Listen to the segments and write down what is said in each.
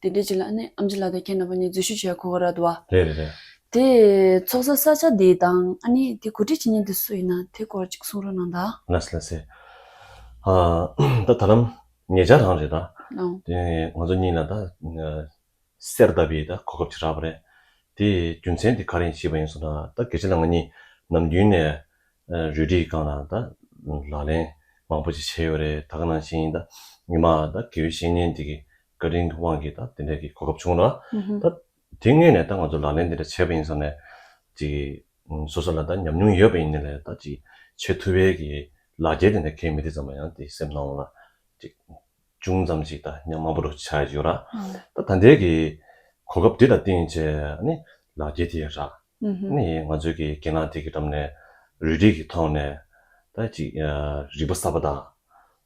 དེ་འདྲའི་ཅིག་ལ་ནི་ཨམ་ཅི་ལ་དང་ཁྱེད་རྣམ་པ་གཉིས་འཛུལ་ཞུགས་བྱས་ཁོ་ར་དུ་བ། རེད་རེད་རེད། དེ་ཚོགས་ས་ས་ཆ་འདི་དང་ཨ་ནི་དེ་གོ་སྒྲིག་བྱེད་མྱི་འདི་སུ་ཡིན་ན་དེ་སྐོར་ཅིག་གསུང་རོགས་གནང་ད། ལ་སི་ལ་སི། ཨ། ད་ད་ལམ་ངེད་ཅག་རང་རེད་ད། དེ་ནས་ང་ཚོ་གཉིས་ལ་ད། གསེར་ལྡབ་པའི་ད་གོ་སྐབས་ཅིག་རག་པ་རེད། དེ་རྒྱུ་མཚན་དེ་ག་རེ་ཡིན་ཤེས་པ་ཡིན་སོང་ད་ད་གལ་ཆེ་ན་ང་གཉིས་ནམ་རྒྱུན་ནས། རུལ་དྲི་སྒང་ལ་ད། ལག་ལེན་མང་པོ་ཅིག་བྱས་ཡོད་རེད་ད་ག་ནང་བཞིན་ད་ཉི་མ་ད་གེའུ་གཤེན་གཉེན་དེ་གི་བཀའ་དྲིན་གྱི་དབང་གིས་ད་དེ་འདྲ་གི་གོ་སྐབས་བྱུང་ལ། ད་དེ་ངོས་ནས་ད་ང་ཚོ་ལག་ལེན་དེ་འདྲ་བྱས་པ་ཡིན་ས་ནས། ཅིག་སོ་སོ་ལ་ད་ཉམས་མྱོང་ཡོད་པ་ཡིན་ནི་ལས་ད་ཅིག་ཆེས་ཐུ་བའི་གི་ལག་རྒྱལ་དེ་འདྲ་གལ་མི་ཏེ་ཙམ་མ་ཡང་དེ་སེམས་སྣང་བ་ལ། ཅིག་ཅུང་ཙམ་ཅིག་ད་ཉམས་དམའ་པོ་རུ་ཆགས་ཡོད་ལ། ད་ད་འདྲའི་གི་གོ་སྐབས་འདི་ད་བསྟན་ཆེས་ནི་ལག་རྒྱལ་དེ་རག་ནི་ང་ཚོའི་གི་རྒན་ལགས་དེ་གི་འགྲམ་ནས་རུས་རིས་གི་ཐོག་ནས་ད་ཅིག་རིག་པ་གསར་པ་དང།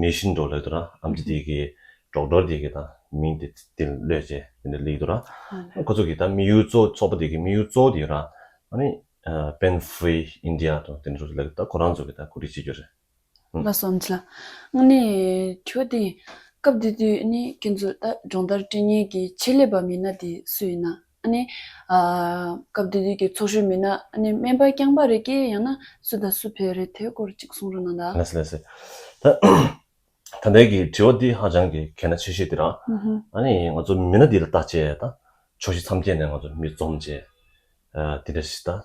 མེད་བཞིན་འགྲོ་ལོས་དོ་ར་ཨམ་ཅི་དེ་གི་གྲོགས་འགྲོ་དེ་གི་དང་མིང་དེ་དེ་ལོས་ཅེས་དེ་འདྲ་ལིག་དོ་ར། ཁོ་ཚོ་གི་དང་མི་ཡུལ་གཙོ་ཚོགས་པ་དེ་གི་མི་ཡུལ་གཙོ་དེ་ར་ཨཱ་པེན་བྷི་ཨིན་དི་ཡ་དང་དེ་འདྲ་ཚོ་ལིག་དང་ཁོ་རང་ཚོ་གི་དང་གོ་སྒྲིག་བྱེད་རྒྱུ་རེད། ལ་སོམ་ཚ། ཨཱ་ནི་ཁྱོད་དེ་སྐབས་དེ་དུས་ཨཱ་ནི་ཀན་སུའུ་ཏཱ་སྦྱོང་བརྡར་སྤྲིན་སྙན་གི་ཆེད་ལས་པ་མིན་ན་དེ་སུ་ཡིན་ན། སྐབས་དེ་དུས་ཀྱི་ཚོགས་གཞོན་མི་སྣ། སྨན་པ་རྐྱང་པ་རེ་སྐྱེས་ཡང་ན་སུ་དང་སུ་བོད་རེད་དེའི་སྐོར་གཅིག་གསུང་རོགས་གནང་ད། ལེགས་སོ་ལེགས་སོ། ད་ལྟའི་གི་དྲི་བ་འདི་ཧ་ཅང་གི་གལ་ན་ཆེ་ཤོས་དེ་རང། ང་ཚོ་མི་སྣ་འདི་ལ་བལྟ་བྱས་དང་ཕྱོགས་བཞི་མཚམས་བརྒྱད་ནས་ང་ཚོ་མི་འཛོམས་བྱས། དེ་འདྲ་ཞིག་དང།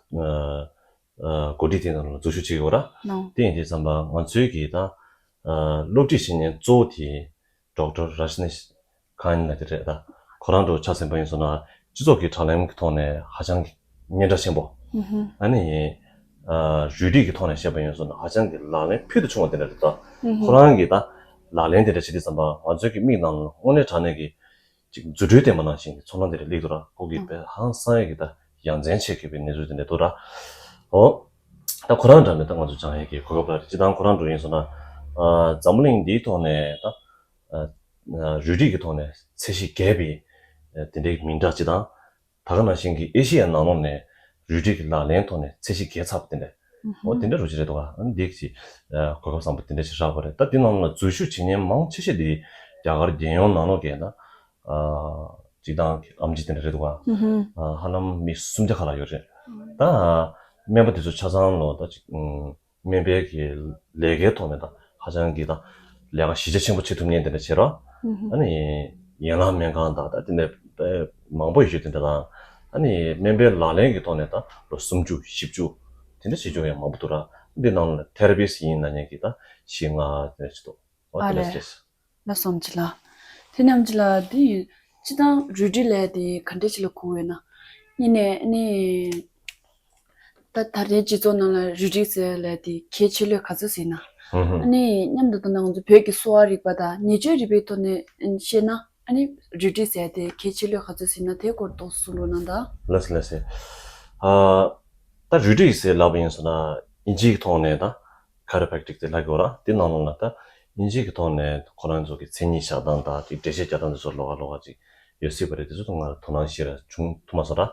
གོ་སྒྲིག་དེ་རང་འཛུལ་ཞུགས་བྱེད་དགོས་ར། དེ་ཡིན་དུས་བསམ་པ་ང་ཚོའི་གི་དང། སློབ་ཁྲིད་བྱེད་ཉན་གཙོ་བོ་དེ། Doctor Rajneesh Kine ལ་དེ་རེད་ད། ཁོ་རང་འགྲོ་ཆགས་ཟིན་པ་ཡིན་སོང་ན་སྤྱི་ཚོགས་ཀྱི་དྲ་ལམ་གྱི་ཐོག་ནས་ཧ་ཅང་གི་སྙན་གྲགས་ཆེན་པོ་ཨ་ནི་ཡིན། རུས་རིགས་ཀྱི་ཐོག་ནས་བཤད་པ་ཡིན་སོང་ན་ཧ་ཅང་གི་ལག་ལེན་ཕུལ་དུ་ཕྱུང་བ་དེ་འདྲ་རེད་ད། ཁོ་རང་གིས་ད་ལག་ལེན་དེ་འདྲ་བྱེད་དུས་བསམ་པ་ང་ཚོའི་གི་མིག་ནང་དངོས་གནས་དྲ་གནས་ཀྱི་ཅིག་རྫུ་འཕྲུལ་བརྟན་པོ་གནང་བཞིན་གྱི་ཚོགས་ལྷ་འདི་རུ་ལེགས་འདུག་ར་ཁོག་གི་བེ་ཧང་བསང་ཡོད་ཀྱི་ད་ཡང་འཛེན་ཆེ་གི་བའི་གནས་ཚུལ་དེ་འདྲ་འདུག་ར་ཨོ། ད་ཁོ་རང་འདྲ་མེད་ད་ང་ཚོ་ཅང་ཧེ་གི་གོ་སྐབས་ལ་རེད་ཅི་ད་ཁོ་རང་འགྲོ་ཡིན་སོང་ན། འཛམ་བུ་གླིང་འདིའི་ཐོག་ནས་ད། རུས་རིགས་ཀྱི་ཐོག་ནས་ཚད་གཞི་རྒས་པའི་དེ་འདྲའི་མིང་གྲགས་ཅི་ད། ད་ག་ནང་བཞིན་གྱི་ཨེ་ཤི་ཡ་ནང་ལོགས་ནས་རུལ་དྲི་གི་ལག་ལེན་ཐོག་ནས་ཚད་གཞི་གས་ཚར་བ་དེ་འདྲ། འོ་དེ་འདྲ་རུ་ཅི་རེད་དོ་ཨ་འདི་ཅི། གོ་སྐབས་བཟང་པོ་དེ་འདྲ་ཞིག་རག་པ་རེད་ད་དེ་རྣམས་ལ་འཛུལ་ཞུགས་བྱེད་མཁན་མང་ཆེ་ཤས་དེ་རྒྱ་གར་རྒྱལ་ཡོངས་ནང་ལོགས་ཀྱི་ན། གཅིག་དང་གི་ཨམ་ཅི་དེ་འདྲ་རེད་དོ་ཨ། ཧ་ལམ་མི་སུམ་བརྒྱ་ཁ་ལ་ཡོད་རེད། ད། སྨན་པ་དེ་ཚོ་ཆ་ཚང་ལོ་ད་ཅིག། སྨན་དཔེ་གི་ལས་ཀའི་ཐོག་ནས་དང་ཧ་ཅང་གི་དང་ལས་ཀ་གཞི་རྒྱ་ཆེན་པོ་བྱེད་ཐུབ་ངེས་འདི་འདྲ་བྱེད་རོགས། ཨ་ནི་ཡན་ལག་སྨན་ཁང་དང་དེ་ནས་མང་པོ་ཡོད་འདི་འདྲ་དང། ཨ་ནི་སྨན་པའི་ལག་ལེན་གི་ཐོག་ནས་དང་ལོ་སུམ་ཅུ་བཞི་བཅུ་དེ་འདྲ་བྱེད་རྒྱུ་ཡང་མང་པོ་འདུག་ར་འདི་ནང་ལ Therapist ཡིན་ན་ཉན་གི་དང་ཞིག་ང་ཨ་རེད། ལ་སོམས་བྱེད་ལ། དེ་རྣམས་ཀྱི་ལ་འདི་ཡི་སྤྱི་དང་རུས་དྲི་ལས་དེ་ག་འདྲས་ཀྱི་ལ་ཁུ་བས་ན། གཉིས་ནས་ནི། ད་ལྟར་དེའི་སྤྱི་ཚོགས་ནང་ལ་རུས་དྲི་ཟེར་བ་ལས་དེ་གལ་ཆེ་ལོས་ག་ཚོད་ཟེར་ན། ནི་སྙམ་དུ་ད་ནང་ཚུད་བོད་ཀྱི་གསོ་བ་རིག་པ་དང་ཉེས་སྤྱོད་རིག་པའི་ཐོག་ནས་བཤད་ན། ནི་རུས་དྲི་ཟེར་དེ་གལ་ཆེ་ལོས་ག་ཚོད་ཟེར་ན་དེའི་སྐོར་རྟོགས་སུ་འགྲོ་ན་ད། ལ་ཟེར་ལ་ཟེར། ད་རུས་དྲི་ཟེར་ལབ་ཡིན་ཟེར་ན་ཡིན་སྤྱིའི་ཐོག་ནས་ད Chiropractic དེ་ལྷ་དགེ་བ་ར་དེ་ནང་ལོག་ན་ད་ཨིན་ཇིའི་གི་ཐོག་ནས་ཁོ་རང་ཚོ་གི་མཚན་ཉིད་བཞག་སྟངས་དང་དེ་འགྲེལ་བཤད་རྒྱག་སྟངས་དེ་ཚོ་ལོག་ག་ལོག་ག་ཅིག་ཡོད་སྲིད་པ་རེད་དེ་ཚོ་དང་ང་ར་དོ་སྣང་ཤེས་ར་བྱུང་ཐུབ་མ་སོང་ར།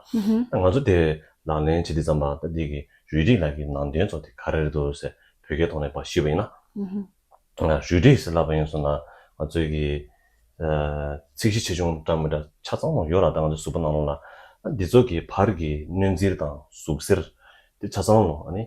ད་ང་ཚོ་དེ་བས་ལག་ལེན་བྱེད་དེ་ཙམ་པ་ད་འདི་གི་རུས་རིགས་ལ་གི་ནང་དོན་ཚོ་དེ་ག་ར་རེད་འདུག་ཟེར་བོད་སྐད་ཐོག་ནས་པ་ཤེས་པ་ཡིན་ན། རུས་རིགས་ཟེར་ལབ་པ་ཡིན་སོང་ད་ང་ཚོའི་གི་ཚིག་གཞི་ཆེ་ཆུང་འདྲ་མི་འདྲ་ཆ་ཚང་མ་ཡོད་ར་ད་ང་ཚོའི་གཟུགས་པོ་ནང་ལོག་ན་ད་འདི་ཚོ་གི་བར་གི་གནོད་འཚེར་དང་ཟུག་གཟེར་དེ་ཆ་ཚང་ལོ་ཨ་ནི་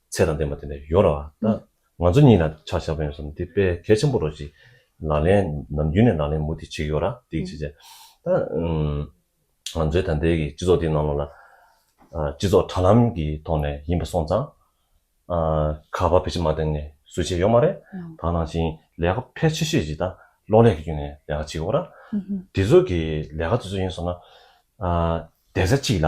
ཚད་དང་ལྡན་པ་དེ་འདྲ་ཡོད་རེད་བ་ད། ང་ཚོ་གཉིས་ལ་ཆ་བཞག་པ་ཡིན་སོང་འདི་དཔེ་གལ་ཆེན་པོ་རོ་ཞིག་ལག་ལེན་ནམ་རྒྱུན་ནས་ལག་ལེན་མུ་ཏིག་བྱེད་ཀྱི་ཡོད་ར་འདི་བྱེད་བྱེད་ད། ང་ཚོའི་ད་ལྟའི་གི་སྤྱི་ཚོགས་འདིའི་ནང་ལོག་ལ། སྤྱི་ཚོགས་དྲ་ལམ་གི་ཐོག་ནས་ཡིན་པ་སོང་ཙང། ཁ་བ་བེད་སྤྱི་མ་བཏང་ནས་སུ་བྱེད་ཡོད་མ་རེད། དང་ནང་བཞིན་ལས་ཀ་ཕལ་ཆེ་ཤོས་ཀྱི་ད་གློག་ཀླད་ཀྱི་རྒྱུན་ནས་ལས་ཀ་བྱེད་ཀྱི་ཡོད་ར། དེ་ཚོ་གི་ལས་ཀ་དེ་ཚོ་ཡིན་སོང་ན། བདེ་རྩ་གཅིག་ལ་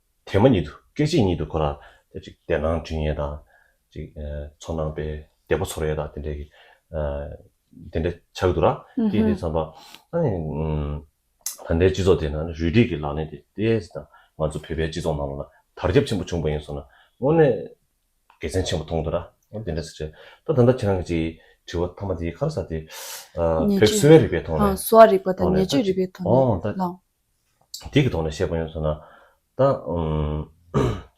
དེ་མ་ཉིད་དུ་སྐད་ཅིག་ཉིད་དུ་འཁོར་རམ། བདེ་སྣང་དྲིན་ཡེ་དང། ཚོར་སྣང་དཔལ་བདེ་པོ་ཚོར་ཡེ་དང་དེ་འདྲ་གི། དེ་འདྲ་ཆགས་ཀྱི་འདུག་ར། སྐད་དེ་ཚངས་པ། ད་ལྟའི་སྤྱི་ཚོགས་དེ་ན་རུལ་དྲི་གི་ལག་ལེན་དེ་ལྟས་ན་ང་ཚོ་བོད་པའི་སྤྱི་ཚོགས་ནང་ལ་དར་ཁྱབ་ཆེན་པོ་བྱུང་པ་ཡིན་སོང་ན་དངོས་གནས་དགེ་མཚན་ཆེན་པོ་མཐོང་འདུག་ར། དེ་འདྲ་ཟེར་ཏེ། ད་ད་ལྟ་ཁྱེད་རང་གི་ཅིག་དྲི་བ་མཐའ་མ་དེ་ག་རེ་ཟེར་ཏེ། བོད་གསོ་བའི་རིག་པའི་ཐོག་ནས། གསོ་བ་རིག་པ་དང་ནད་བཅོས་རིག་པའི་ཐོག་ནས་ལ། དེ་གི་ཐོག་ནས་བཤད་པ་ཡོང་ཟེར་ན། ད།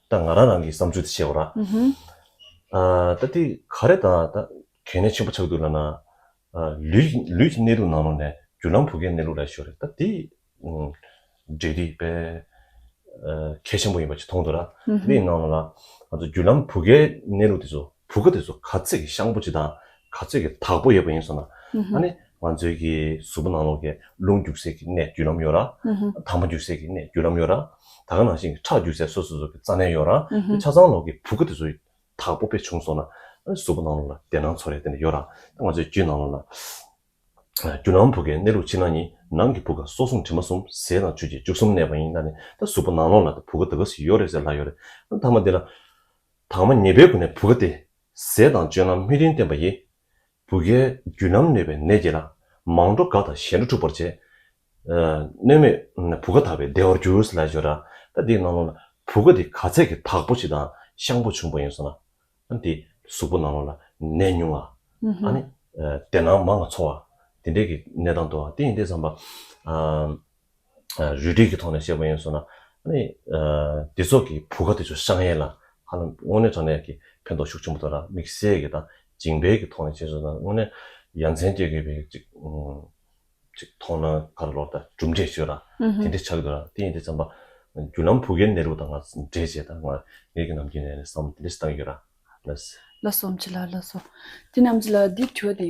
ད་ང་རང་རང་གི་བསམ་ཚུལ་དེ་བཤད་པ་ར། ད་དེ་ག་རེ་དང་ད་གལ་གནད་ཆེན་པོ་ཆགས་འདུག་ལ་ན། ལུས་ལུས་ཀྱི་གནས་ལུགས་ནང་ལོགས་ནས་བརྒྱུད་ལམ་བུ་གའི་གནས་ལུགས་ར་ཤོར་རེད་ད་དེ། འབྲེལ་འདྲིས་དཔེ། གལ་ཆེན་པོ་ཡིན་པ་ཅིག་མཐོང་འདུག་ར། དེ་ཡི་ནང་ལོགས་ལ། ང་ཚོ་བརྒྱུད་ལམ་བུ་གའི་གནས་ལུགས་དེ་ཚོ་བུ་ག་དེ་ཚོ་ག་ཚོད་ཀྱི་ཤངས་པོ་ཅིག་དང་ག་ཚོད་ཀྱི་དག་པོ་ཡོད་པ་ཡིན་ཟེར་ན། ཨ་ནི། ང་ཚོའི་གི་གཟུགས་པོ་ནང་ལོགས་ཀྱི་རླུང་རྒྱུག་སའི་གི་གནས་བརྒྱུད་ལམ་ཡོད་ར། དྭངས་མ་རྒྱུག་སའི་གི་གནས་བརྒྱུད་ལམ་ཡོད་ར། ད་ག་ནང་བཞིན་གི་ཁྲག་རྒྱུག་སའི་སོ་སོ་སོ་གི་རྩ་གནས་ཡོད་ར། དེ་ཆ་ཚང་ལོགས་ཀྱི་བུ་གུ་དེ་ཚོ་དག་པོ་པས་བྱུང་སོང་ན། གཟུགས་པོ་ནང་ལོགས་ལ་བདེ་སྣང་ཚོར་རེག་དེ་འདྲ་ཡོད་ར། ང་ཚོའི་རྒྱུད་ནང་ལོགས་ལ། རྒྱུ་ནང་བུ་གའི་གནས་ལུགས་ཕྱི་ནང་གཉིས་ནང་གི་བུ་ག་སྲོག་གསུམ་དྲི་མ་གསུམ་ཟས་དང་ཆུ་གཅིག་བཅུ་གསུམ་གནས་པ་ཡིན་ད་ནི་ད་གཟུགས་པོ་ནང་ལོགས་ལ་བུ་ག་ད་ག་ཟིག་ཡོད་རེད་ཟེར་ལ་ཡོད་རེད་ད་མ་འདི་ལ། དྭངས་མ་ཉེས་པའི་སྒོ་ནས་བུ་ག་དེ། ཟས་དང་སྤྱོད་ལམ་སྨིན་རིན་བསྟེན་པ་ཡིས། བུ་གའི་རྒྱུན་རྣམས་གནོད་པའི་ནད་ཀྱིས་ན། མང་འགྲོ་དགའ་དང་ཞེ་འགྲོ་འཁྲུགས་པར་བྱེད། སྣོད་མེད་བུ་ག་དག་པའི་བདེ་བར་འགྱུར། ལས་སྦྱོར་ར་ད་དེའི་ནང་ལོགས་ན། བུ་ག་དེ་ག་ཚད་ཀྱི་དག་པོ་ཞིག་དང་ཤངས་པོ་ཆུང་བ་ཡིན་སོང་ན། དེའི་གཟུགས་པོ་ནང་ལོགས་ལ་ནད་ཉུང་བ། དེ་ནང་མ་ང་འཚོ་བ། དེ་འདྲའི་གི་ནད་དང་འདོ་བ་དེ་ཡིན་ཏེ་བསམ་པ། རུལ་དྲོད་ཀྱི་ཐོག་ནས་བཤད་པ་ཡིན་སོང་ན། ནི། དེ་ཚོགས་ཀྱི་བུ་ག་དེ་ཚོ་ཧྲང་ཧའེ་ལ། ཧ་ལམ་དངོས་གནས་དྲང་གནས་ཀྱི་ཕན་ཐོགས་ཤུགས་ཆེན་པོ་ཐོན་ལ་དམིགས་བསལ་གྱི་དང་སྦྱིན་སྤེལ་གྱི་ཐོག་ནས་བྱས་སོང་ན་དངོས་གནས་ཡ་མཚན་སྐྱེ་དགོས་པའི་ཅིག། ཅིག་མཐོང་སྣང་ག་རེ་ལོག་ལྟ་གྲུབ་འབྲས་ཆོས་ལ་དེ་འདྲས་ཆགས་འདུག་ལ་དེ་ཡིན་དུས་བརྩམས་པ། རྒྱུ་ལམ་བུ་གའི་གནས་ལུགས་དང་ང་འདྲེས་བྱས་དང་ང་ངེས་ཀྱི་ནམ་རྒྱུན་ནས་བསམ་བློ་དེ་འདྲས་བཏང་ཡོད་ར་ལ། ལ་སོམས་ཅི་ལ་ལ་སོ། དེ་རྣམས་ཀྱི་ལ་དེ་ཁྱོ་དེ།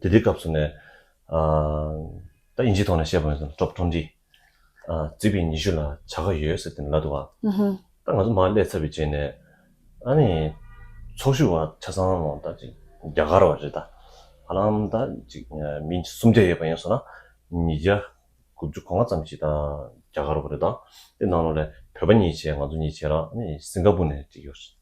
དེ་དུས་སྐབས་སུ་ནས། ད་དབྱིན་ཇིའི་ཐོག་ནས་བཤད་པ་ཡིན་ཟེར Drop Tone འདི། རྩིས་པའི་ཉི་ཤུ་ལ་བྱ་དགའ་ཡོད་ཟེར་དེ་ལ་འདུག་བ། ད་ང་ཚོ་མར་བསླེབས་ཚར་བའི་རྗེས་ནས། ཨ་ནི། ཚོགས་ཞུགས་བ་ཆ་ཚང་ལོ་ད་ཅིག་རྒྱ་གར་བ་རེད་ད། ཧ་ལམ་ད་ཅིག་མི་སུམ་བརྒྱ་ཡོད་པ་ཡིན་སོང་ན། ཉིས་བརྒྱ། དགུ་བཅུ་གོ་ལྔ་ཙམ་ཞིག་ད་རྒྱ་གར་བ་རེད་ད། དེ་ནང་ལོ་ལས་བོད་པ་གཉིས་བྱས་ང་ཚོ་གཉིས་བྱས་ལ་ཨ་ནི་སིང་ག་པུར་ནས་ཅིག་ཡོད་རེད།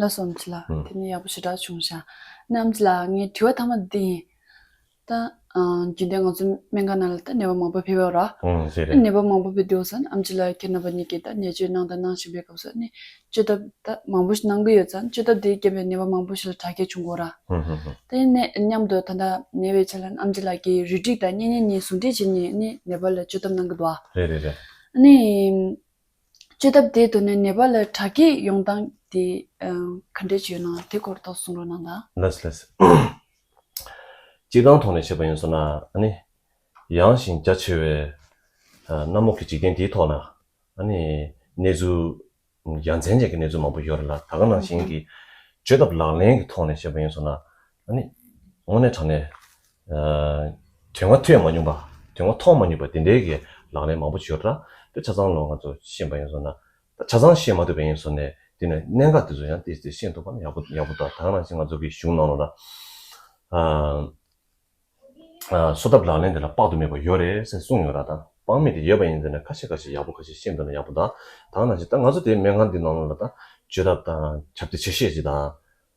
ལ་སོམས་ཚུལ་ལ་དེ་ནས་ཡག་པོ་ཞེ་དྲག་བྱུང་ཞག་གནམ་ལ་ངའི་དྲི་བ་ཐ་མ་འདི་ཡིན། ད་རྒྱུན་ལྡན་ང་ཚོ་སྨན་ཁང་ནང་ལ་ད་ནད་པ་མང་པོ་ཕེབས་ཡོད་ར། ནད་པ་མང་པོ་ཕེབས་དུས་སང་ཨམ་ཆི་ལ་ཁྱེད་རྣམ་པ་གཉིས་ཀྱིས་ད་ནད་བཅོས་གནང་དང་གནང་བཞིན་པའི་སྐབས་སུ་ནི་བཅོས་ཐབས་ད་མང་པོ་ཞིག་གནང་གི་ཡོད་ཙང་བཅོས་ཐབས་དེའི་རྐྱེན་པས་ནད་པ་མང་པོ་ཞིག་ལ་དྲག་སྐྱེད་བྱུང་དགོས་ར། དེ་ནས་མཉམ་དུ་ད་ལྟ་ནད་པའི་ཆ་ལ་ཨམ་ཆི་ལ་ཁྱེད་རུས་སྒྲིག་དང་གཉེན་ཉེ་གཉིས་ཟུང་འབྲེལ་བྱས་ནས་ནི་ནད་པ་ལ་བཅོས་ཐབས་གནང་གི་འདུག་ཨ། ནི། བཅོས་ཐབས་དེའི་དོན་ནི་ནེ་པ་ལའི་དྲ་རྒྱའི་ཡོང་སྟངས་དེ་ག་འདྲའི་བྱུས་ནང་དེ་སྐོར་ཐོག་གསུང་རོགས་གནང་དང། ལེས་ལེས། སྤྱིར་བཏང་ཐོག་ནས་བཤད་པ་ཡིན་སོང་ན་ནི། ཡངས་ཤིང་རྒྱ་ཆེ་བའི་གནམ་འོག་གི་འཇིག་རྟེན་དེའི་ཐོག་ན་ནི་གནས་ཚུལ་ཡ་མཚན་ཅན་གྱི་གནས་ཚུལ་མང་པོ་ཡོད་རེད་ལ། ད་ག་ནང་བཞིན་གྱི་བཅོས་ཐབས་ལག་ལེན་གྱི་ཐོག་ནས་བཤད་པ་ཡིན་སོང་ན། ནི། དངོས་གནས་དྲང་གནས། དོན་ང་ཐོས་མ་མྱོང་པ། དོན་ང་མཐོང་མ་མྱོང་པ་དེ་འདྲའི་གི་ལག་ལེན་མང་པོ་བྱོས་ར་དེ་ཆ་ཚང་ལོ་ང་ཚོ་ཤེས་པ་ཡིན་སོང་ན། ད་ཆ་ཚང་ཤེས་མ་ཐུབ་པ་ཡིན་སོང་ནས་དེ་ནི་གནད་འགག་དེ་ཚོ་ཡང་དེ་ཤེས་ཐུབ་པ་ནི་ཡག་པོ་ཡག་པོ་ད་ད་གནང་ཞིག་ང་ཚོ་གི་གཞུང་ནང་ལོ་ན། གསོ་ཐབས་ལག་ལེན་དེ་ལ་དཔག་ཏུ་མེད་པ་ཡོད་རེད་སེ་གསུངས་ཡོད་ར་ད་དཔང་མེད་དེ་ཡོད་པ་ཡིན་ཟེར་ནས་ཁ་ཤས་ཁ་ཤས་ཡག་པོ་ཁ་ཤས་ཤེས་འདོད་ན་ཡག་པོ་ད་ད་གནང་ཞིག་ད་ང་ཚོ་དེ་སྨན་ཁང་དེ་ནང་ལོ་ན་ད་བཅོས་ཐབས་དང་ཁྱབ་བདེ་ཆེ་ཤེས་ཅིག་དང།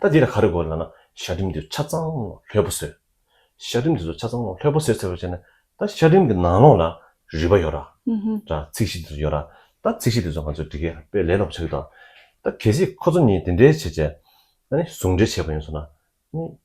ད་འདི་ལ་ག་རེ་དགོས་ལ་ན་ཞག་རིམ་དུ་ཆ་ཚང་ལྷོད་པོ་བཟོས། ཞག་རིམ་དེ་ཚོ་ཆ་ཚང་ལྷོད་པོ་བཟོས་ཟེར་བ་བྱས་ན་ད་ཞག་རིམ་གྱི་ནང་ལོགས་ལ་རིགས་པ་ཡོད་ར། དྲ་ཚིགས་གཞི་དེ་ཚོ་ཡོད་ར། ད་ཚིགས་གཞི་དེ་ཚོ་ང་ཚོས་འདི་གའི་དཔེ་ལས་ལོགས་བྱ་རྒྱུ་དང། ད་གལ་སྲིད་ཁོ་ཚོ་གཉིས་དེ་འདྲའི་བྱས་བྱས། ད་ནི་ཟུང་འབྲེལ་བྱས་པ་ཡིན་སོང་ན།